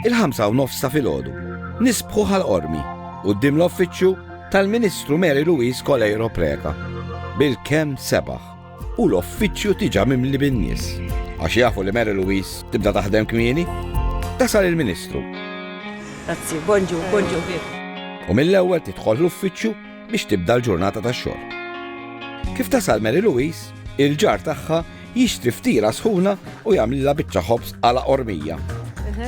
Il-ħamsa u nofs ta' filgħodu, nisbħu Ħal Qormi, quddiem l-offiċċju tal-Ministru Mary Louise Coleiro Preca, bil-kemm sebaħ u l-offiċċju tiġa mimli bin-nies, għax jafu li Mary Louise tibda taħdem kmieni, tasal il-Ministru. Grazzi, bonġu, bonġu. U mill-ewwel tidħol l-uffiċċju biex tibda l-ġurnata tax-xogħol. Kif tasal Mary Louise, il-ġar tagħha Jixtri ftiera sħuna u jagħmlilha biċċa ħobż għala qormija.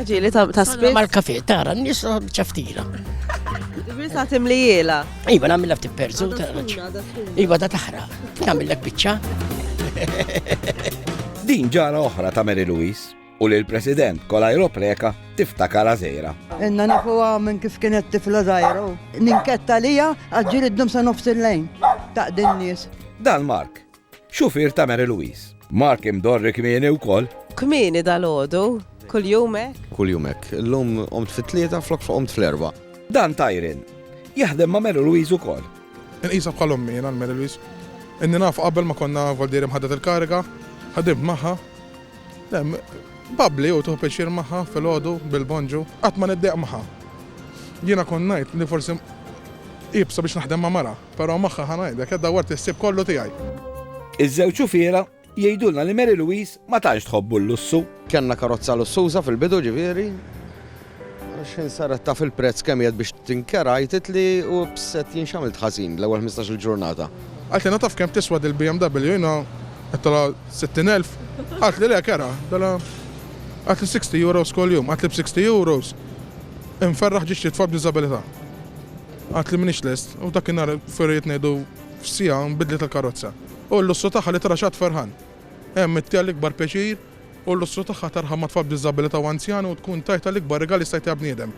Ġili ta' spiss. Mal kafe, tara, nis ċaftira. Bisa timlijela. Iva, namilla ftit perzu. Iva, da taħra. Namillek bicċa. Din ġara oħra ta' Mary Louise u li l-President Kolaj Ropreka tiftakar għazera. Inna nafu minn kif kienet tifla zaħira. Ninketta lija għadġir id-dum sa' nofs il-lejn ta' din nies. Dan Mark, Xufier ta' Mary Louise. Mark imdorri kmieni wkoll. Kmieni dalgħodu, kuljum hekk? Kuljum hekk. Illum qomt fit-tlieta flok f'qomt fl-erbgħa. Dan ta' Irene. Jaħdem ma' Mary Louise wkoll. Inqisha bħal ommi jiena l-Mary Louise. Inni nafha qabel ma konna voldieri mħaddet il-kariga. Ħdimt magħha. Le, babbli u tieħu pjaċir magħha filgħodu bil-bonġu. Qatt ma niddejjaq magħha. Jiena kont ngħid li forsi iebsa biex naħdem ma' mara. Però magħha ħa ngħidlek, qed dawwart is-sib kollu tiegħi. Iż-żewġ xufiera jgħidulna li Mary Louise ma tantx tħobbu l-lussu. Kellna karozza lussuża fil-bidu ġifieri, għax jien saret taf il-prezz kemm jgħid biex tinkera, jgħidit li hu bset jinx għamilt ħażin l-ewwel ħmistax-il ġurnata. Qaltli na taf kemm tiswa dil-BMW jiena għedtilha 60,000, qaltli le kera, dela qaltli 60 euros kuljum, qaltli b'60 euros inferraħ ġisċi tfal b'diżabilità. Għidt li m'iniex lest, u f'dakinhar, f'irrid ngħidu f'siegħa, nbidlet il-karozza. U l-lussu tagħha li tara x'għadd ferħan. Hemm it tiegħi l-ikbar pjaċir, u l-lussu tagħha tarha ma' tfal b'diżabilità u anzjani u tkun tajtha l-ikbar rigal li jista' jtiha bniedem.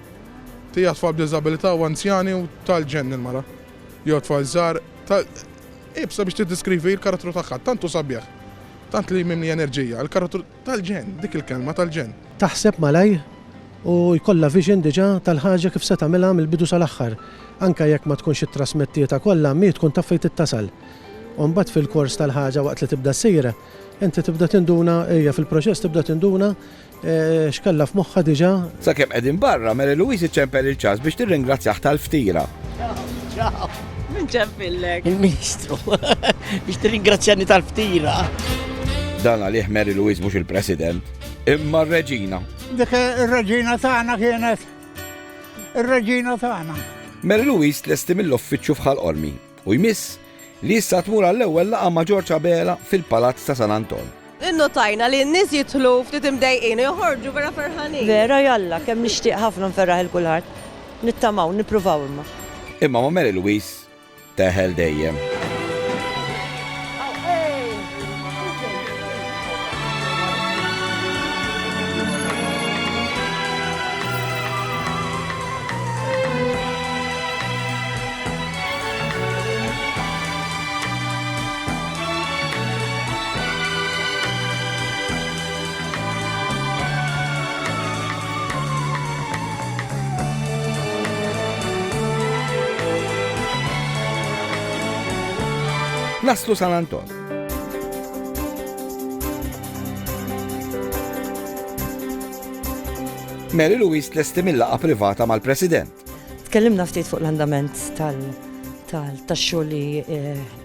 Tiha tfal b'diżabilità u anzjani u tal-ġenn il-mara. Jew tfal żgħar, tal. Iebsa biex tiddiskrivi l-karattru tagħha, tant hu sabiħ. Tant li mimli enerġija. Il-karattru. Tal-ġenn, dik il-kelma tal-ġenn. Taħseb malajr u jkollha vision diġà tal-ħaġa kif se tagħmilha mill-bidu sal-aħħar. Anke jekk ma tkunx ittrasmettietha kollha, mhi tkun taf fejn trid tasal. U mbagħad fil-kors tal-ħaġa waqt li tibda ssir, inti tibda tinduna, hija fil-proċess tibda tinduna x'kellha f'moħħha diġà. Sakemm qegħdin barra, Mary Louise iċċempel il-ċass biex tirringrazzjah tal-ftira. Min ġempillek? Il-Ministru, biex t-ringrazzjani tal-ftira. Dan għalih Mary Louise mux il-President, imma r-Reġina. Dik ir-Reġina tagħna kienet ir-Reġina tagħna. Mary Louise tlesti mill-offiċċju fħal ormi u jmiss li issa tmur għall-ewwel laqa ma' Ġorġ Abela fil-Palazz ta' San Anton. Innotajna li n-nies jidħlu ftit imdejqin u joħorġu vera ferħanin. Vera jalla, kemm nixtieq ħafna nferraħ il kulħadd. Nittamaw, nippruvaw imma. Imma ma' Mary Louise teħel dejjem. Naslu San Anton. Mary Louise tlesti mill-laqa privata mal-President. Tkellimna ftit fuq l-andament tal-xogħol li eh,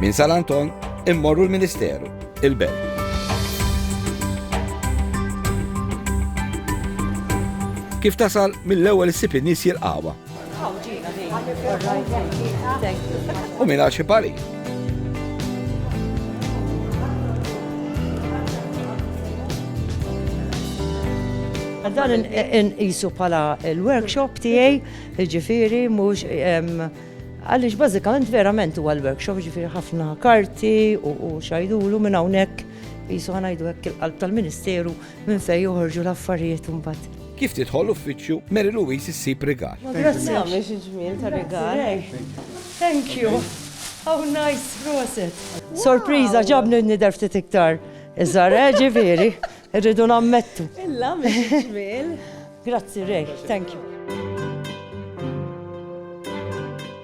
Minn San Anton immorru l-Ministeru, il-Belt. Kif tasal mill-ewwel issib in-nies jilqawha. U minn għax ipari. Dan inqisu bħala l-workshop tiegħi, jiġifieri mhux għaliex bażikament verament huwa l-workshop, jiġifieri ħafna karti u xajdulu minn hawnhekk jisu ħanajdu hekk il-qalb tal-Ministeru minn fejn joħorġu l-affarijiet imbagħad. Kif tidħol uffiċċju Mary Louise issib rigal? Grazzi għamiex il-ġmiel ta' rigal. Thank you. How nice, proset. Sorpriża, ġabni nidher ftit iktar iżgħar, eh, ġifieri, irridu nammettu. Illa mhix ġmiel. Grazzi Ray, thank you.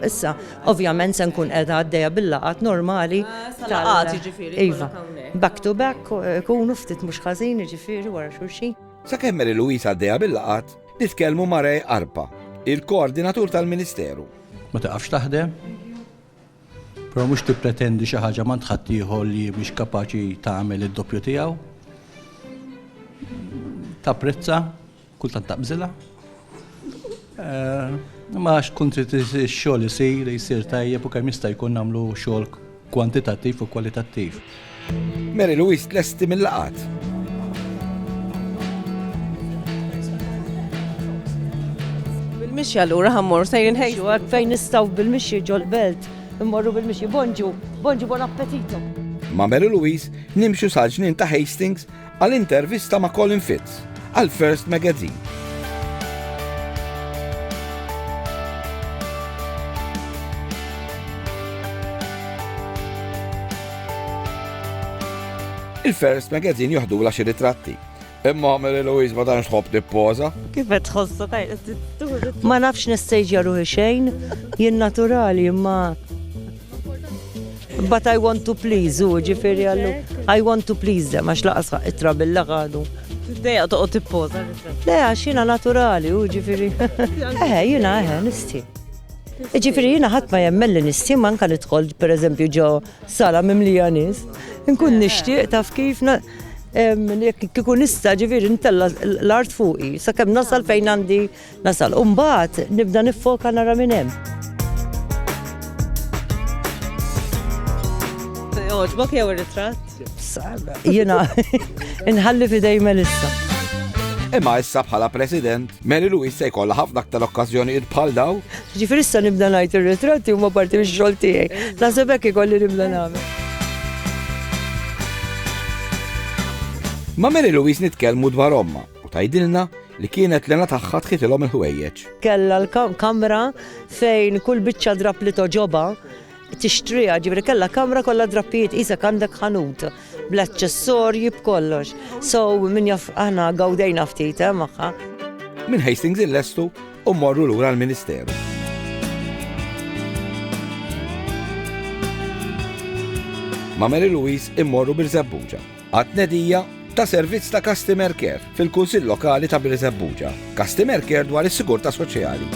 Issa, ovvjament se nkun qiegħda għaddejja bil-laqat normali. Ah, Tal-laqat jiġifieri. Iva. Back to back, eh, kunu ftit mhux ħażin jiġifieri wara xulxin. Sakemm Mary Louise għaddejja bil-laqat, nitkellmu ma' Ray Arpa, il-koordinatur tal-Ministeru. Ma taqafx taħdem, però mhux tippretendi xi ħaġa m'għand ħaddieħor li mhix kapaċi tagħmel id-doppju tiegħu. Tapprezza, kultant taqbżilha. Eh, ma għax tkun trid ix-xogħol isir, jsir tajjeb u kemm jista' jkun nagħmlu xogħol kwantitattiv u kwalitattiv. Mary Louise tlesti mill-laqgħat. Bil-mixi allura ħammor sejrin ħejju għad fejn nistgħu bil-mixi ġol-belt. Immorru bil-mixi bonġu, bonġu bon appetito. Ma' Mary Louise nimxu sal-ġnien ta' Hastings Għal intervista ma' Colin Fitz għal First Magazine. Il-First Magazine joħdu la xi ritratti. Imma Mary Louise ma danx tħobb tippoza. Kif qed tħossha tajqet Ma nafx nistejġja ruħi xejn, jien naturali imma But I want to please u ġifiri għallu. I want to please them, għax laqas itra bil-laqadu. Deja toqgħod tippoza. Le għax jiena naturali u ġifiri. Eħe, jiena eħe, nisti. Ġifiri jiena ħadd ma jemmelli nisti manka nidħol pereżempju ġo sala mimlija nies. Nkun nixtieq taf kif kikun nista ġifiri ntella l-art fuqi, sakemm nasal fejn għandi Nasal u mbagħad nibda niffoka nara min hemm. Jogħġbok jew ir-ritratt? Jiena inħalli f'idej Melissa. Imma issa bħala president, Mary Louise se jkollha ħafna aktar okkażjonijiet bħal daw. Ġifieri issa nibda ngħid ir-ritratti huma parti mix-xogħol tiegħi. Naħseb hekk ikolli nibda nagħmel. Ma Mary Louise nitkellmu dwar omma. U tgħidilna li kienet l-għena tagħha tħitilhom il-ħwejjeġ. Kellha l-kamra fejn kull biċċa drab li toġobha tixtriha, ġibri kellha kamra kollha drappijiet isek għandek ħanut bl-aċċessorji b'kollox. So min jaf aħna gawdejna ftit eh, magħha. Minn Hastings il-lestu u morru lura l-Ministeru. ma' Mary Louise immorru bil-żebbuġa. għat-tnedija ta' servizz ta' Customer Care fil-Kunsill Lokali ta' Birżebbuġa, Customer Care dwar is-Sigurtà Soċjali.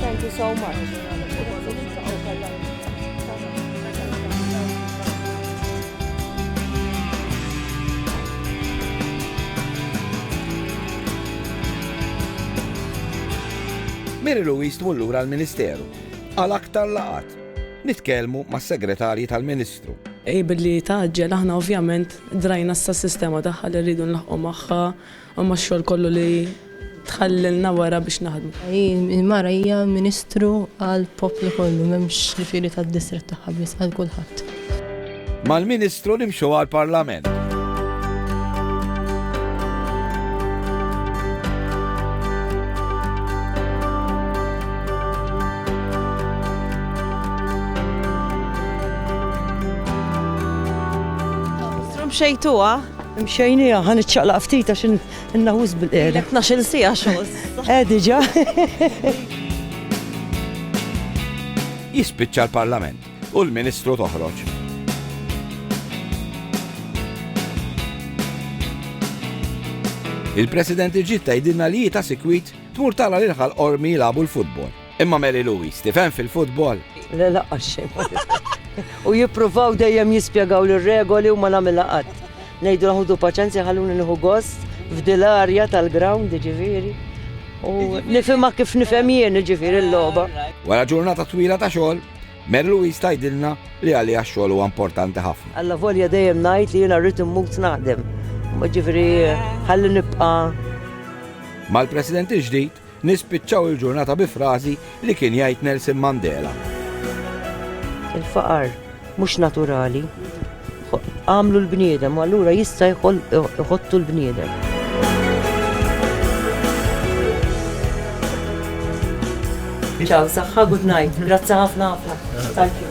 Thank you so much. Mary Louise tmur lura l-Ministeru għal aktar laqgħat. Nitkellmu mas-Segretarji tal-Ministru. Ej billi tgħaġġel aħna ovvjament drajna s-sistema tagħha li rridu nlaħqu magħha Imma x-xogħol kollu li tħallilna wara biex naħdmu. Il-mara hija ministru għall-poplu kollu, m'hemmx ġifieri tad-distrett tagħha biss, għal kulħadd. Mal-Ministru nimxu għall-Parlament. Tromxejtuha? Mxejnieha, ħa niċċaqlaq ftit għax inna wisq bil-qiegħda. Ilek tnax-il siegħa xogħol. Eh diġà. Jispiċċa l-Parlament u l-Ministru toħroġ. Il-President iġġid tgħidilna li hi ta' sikwit tmur tara lil ħal qormi jilagħbu l-futbol. Imma Mary Louise, tifhem fil-futbol? Le laqqas xejn ma nifhem. U jippruvaw dejjem jispjegawli r-regoli u ma nagħmilha qatt. Ngħidulhom ħudu paċenzja ħalluni nieħu gost f'dil arja tal-ground jiġifieri. U nifhimha kif nifhem jien jiġifieri l-logħba. Wara ġurnata twila ta' xogħol, Mary Louise tgħidilna li għaliha x-xogħol huwa importanti ħafna. Allavolja dejjem ngħid li jiena rrid immut naħdem. Jiġifieri ħalli nibqa'. Mal-President il-ġdid, Nispiċċaw il-ġurnata bi frażi li kien jgħid Nelson Mandela. Il-faqar mhux naturali. Għamlu l-bniedem, u allura jista' jħottu l-bniedem. Ciao, saħħa, good night. Grazzi ħafna ħafna. Thank you.